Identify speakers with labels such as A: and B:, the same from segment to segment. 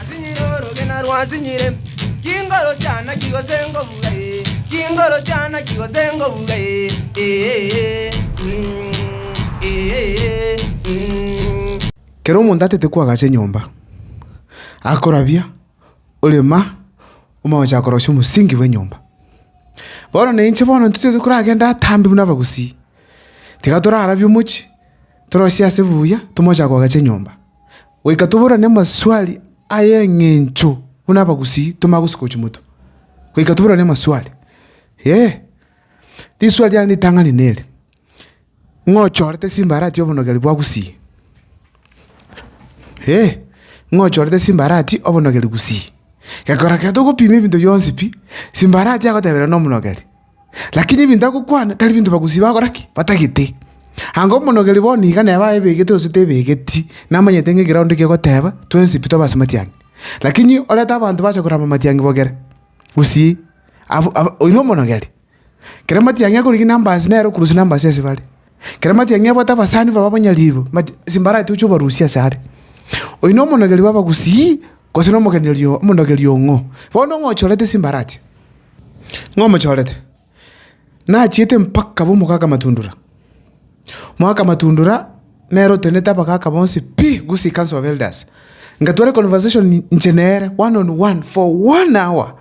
A: Sinyire orogena rwa sinyire, chingoro chiana chigose ngobuga ee, chingoro chiana chigose ngobuga ee, ee, mm, ee,
B: mm. Kera omonto atete koagacha enyomba, akorabia orema omaocha akorosia omosingi bw'enyomba. Bono na inche bono intwe titari koragende atambe buna abagusii, tiga torarabie omochie, torosie ase buya, tomochaka koagacha enyomba. goika toborane amaswali ay'engencho buna abagusii tomanye gosugochia motwe, goika toborane amaswali eeh. Riswali riane ritang'ani nere, ng'o ochorete simbarati obonogeri bwa gusii? eeh, ng'o ochorete simbarati obonogeri gusii? Gekogera kera togopima ebinto bionsi pi, simbarati agotebera nomonogeri. Lakini ebinto agokwana tari binto bagusii bagokora ki? Batagete. Anga omonogeri bono iga neba ayebegete gose tebegeti, namanyete ng'a ekerogo kegoteba twensi pi tobe ase amatiang'e. Lakini oreta abanto bache korama amatiang'e bogere, gusii abwo abwo oino omonogeri. Kera amatiang'e akorigia nambasi nere okorwa ase nambasi ase bare. Ekero Matia ng'ebwate abasani baba abanyariibo, Matia ase mbaraete gochia obarusia ase are. Oino omonogeri bw'abagusii, gose nomogeneri omonogeri o ng'o? Bono ng'o ochorete ase mbarache? Ng'o omochorete? Nachiete mpaka abe omogaka matundura. Omogaka matundura nere otenenete abagaka bonsi pi, gusi council of elders. Ngatware conversation inche nere one on one for one hour,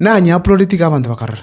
B: nanye apuroreti iga abanto bakarora.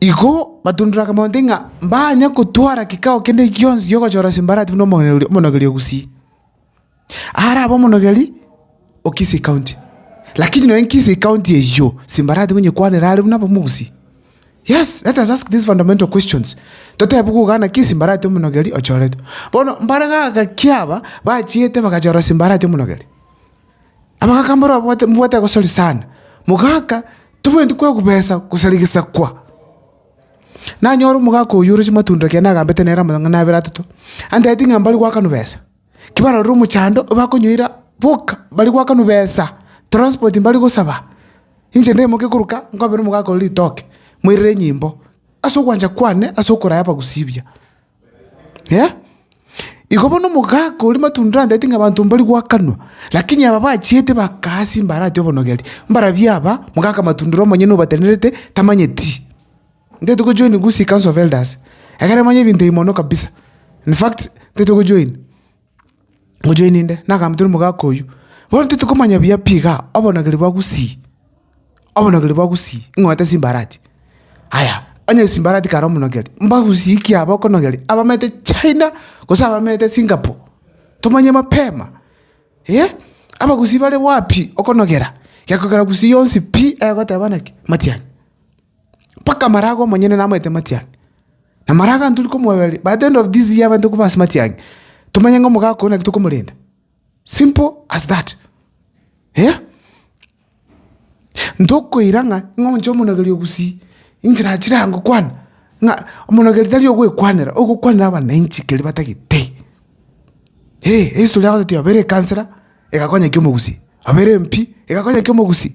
B: Igo Matundura akamoteebia ng'a, Mbanya gotwara kekao kende gionsi giogochora chimbarati buna omonene omonogeri o Gusii. Arabe omonogeri o Kisii County. Lakini nonye Kisii County eyio, chimbarati ngonyekwanera are buna ab'omogusii? Yes, let us ask these fundamental questions, toteebe kogana ki chimbarati omonogeri ochoretwe. Bono mbare gaka ki aba bachiete bagachora chimbarati omonogeri? Abagaka morabwate, mobwate agosori sana, mogaka tobwenereti kwegubesa gosari gesakwa. Nanyora omogaka oywo oroche matunda ekero nagambete nere amang'ana abere atato, antebeti ng'a mbari goakanwa besa, ki barorire omochando bakonyoira boka mbari goakanwa besa, transport mbari gosaba. Inche ndaimoke korwa ka, nkobera omogaka oria ritoke, moirere enyimbo, ase ogwancha kwane ase okoraya abagusibia. Igo bono omogaka oria matunda nandeti ng'a abanto mbari goakanwa, lakini aba bachiete bakaasi mbarati obonogeri, mbarabio aba mogaka matunda oria omonyene obatenerete tamanyeti. Ntaito go join gose council of elders, egere manye ebinto ebi mono kabisa, in fact, ntaito go join. Mocheni inde, nagaambete nomogaka oyio, bono titokomanya buya pi igaa, obonogiri bwa gusii, obonogiri bwa gusii, ing'oete simbarati. Aya, onye simbarati kare omonogeri, mbagusii ki aba okonogeria? Abamate China, gose abamate Singapore? Tomanye mapema, eh, abagusii bare wapi okonogera? Gekogera gusii yonsi pi egoteba naki? Matiang'i. mpaka amarago omonyene namaete amatiang'e. Na amarago ayio tori komoebereria by the end of this year abanto koba ase amatiang'e, tomanye ng'a omogaka oyo naki tokomorenda. Simple as that, eh. Ntokoira ng'a ng'oche omonogeri o gusii, inche naye chirango kwana, ng'a omonogeri tari ogwekwanera, ogokwanera abananchi keria batagete. Hee, history agotetebi abeire ekansera, egakonya ki omogusii? Abeire MP, egakonya ki omogusii?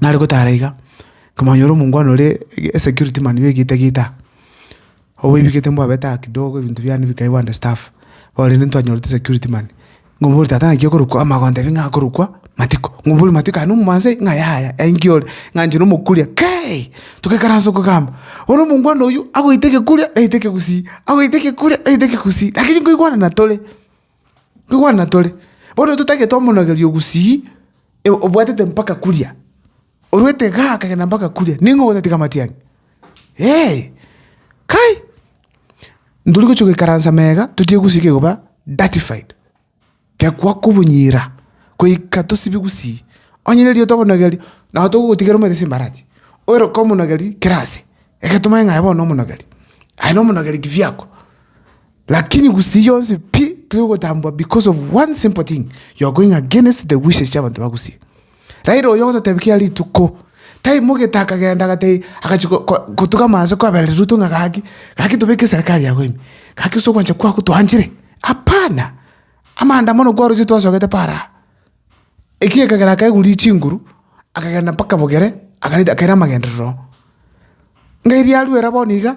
B: Nare gotara iga, nkamonyora omongwana ore ege esecurity man bwegete gete aa, oboibigete mbwabete aa kidogo ebinto biane bikae bande staff, orende ntwanyorete security man. Ngomobori tata naki okorokwa amo agontebia ng'a akorokwa Matiko, ngomobori Matiko aye na omomaasai? Ng'a yaya, aye nki ore? Ng'a inche na omokuria. Kei! Togekaranse okogamba, bono omongwana oywo agoite egekuria, naite ekegusii, agoite egekuria, naite egegusii, lakini nkoigwanana tore. Nkigwana tore, bono ototagete omonagerio gusii obwatete mpaka kuria, orwete igaa akagenda mpaka kuria, ning'o ogotatiga amatiang'i? Eeh, kai! Ntori gochia goikaransa mega totige gusii kegoba dirtified, gekwa kobonyira goika tosibie gusii, onye ne riroto omonagerio, nabo togogotigera omanyete simbarati, oeroke omonageri kera ase, egento omanye ng'a aye bono nomonageri, aye nomonageri kivyako. Lakini gusii yonsi pi tiri gotambwa because of one simple thing, you are going against the wishes chi'abanto ba gusii. Raila oyo ogototebia kira rituko, tari mogete akagenda agatebia agachia go- go- gotuga amanse kwaberera Ruto ng'a gaki, gaki tobeke eserekari yago ime, gaki ase ogwancha kwago twanchire, hapana! Amaandamano kwaroche twasogete paara aa. Ekio ekagera akaiguri chinguru, akagenda mpaka Bogere, akareta akaira amagenderero oo. Ng'ai riarwera bono iga,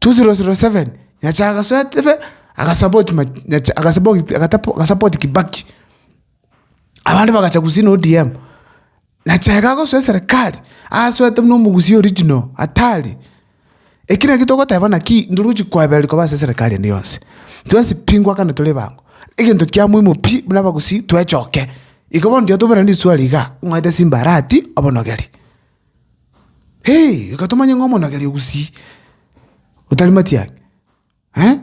B: 2007 nyasae agasoa tebe agasupport ma nyasae agasupport agatapo agasupport kibaki, abande bagacha gusii na odm, nyasae iga agosoa eserekari, asoete buna omogusii original hatari. Eki naki togoteba naki ndoruchi koeberi koba ase eserekari ende yonsi. Twensi pi ngwakana tore ebango, egento kia moimo pi buna abagusii twechoke. Igo bono tiotoborana risuari igaa, ng'oete simbarati obonogeri. Hei! Reka tomanye ng'a omonageria gusii otari matiang'i, eh?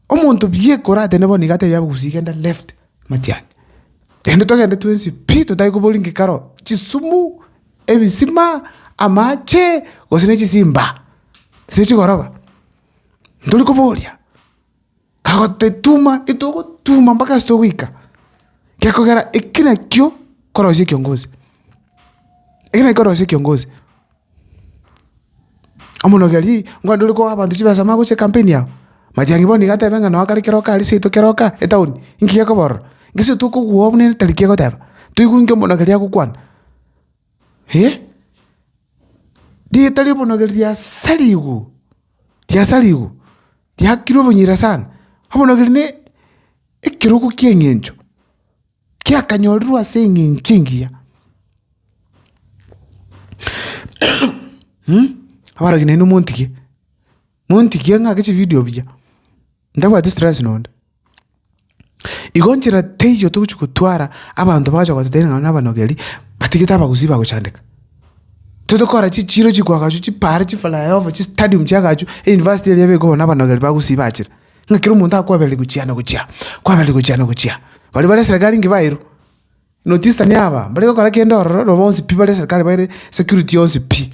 B: Omonto bieka oratende bono nigo atebi abe gusii genda left matiang'i. Rende togende twensi pi, totake koboringia ekero chisumu, ebisima, amache, gose ne chisimba, gose chigoroba, ntori koboria. Agotetuma, etogotuma mpaka ase togoika, gekogera eki nakio korosia ekiongozi, eki nakio korosia ekiongozi. Omonogeri ngwende ore koa abanto chibesa amanye gochia ekampeni yao, machiangi bono iga atebe ng'a noo kare kero kare seito kero kaa etaoni, inki gekoborora? Nki seito tokogwoa buna etariki egoteba? Toigwe inki omonogeri agokwana. Eh! Rieta ri'obonogereri riasarigwe, riasarigwe, riakirwe obonyira sana, obonogereri ne ekerogo ki'eng'encho, kiakanyorirwe ase eng'encho engiya abarabi naende montige. Montigie ng'a ake chividio biya, ntabwati stress nonde. Igo nchera teiyo togochia gotwara abanto bagacha goteta ering'ana na abanogeri, batigete abagusii bagochandeka. Tari tokora chichiiro chikwa agacho, chipare, chiflyover, chistadium chia agacho, euniversity eria ebekwa bono na abanogeri bagusii bachire. Ng'a kera omonto akoabereri gochia na gochia, kwabereri gochia na gochia. Baria bare eserekari nki bairwe? North Eastern aba, mbari gokora kende ororo, orobo bonsi pi bare eserekari baire security yonsi pi.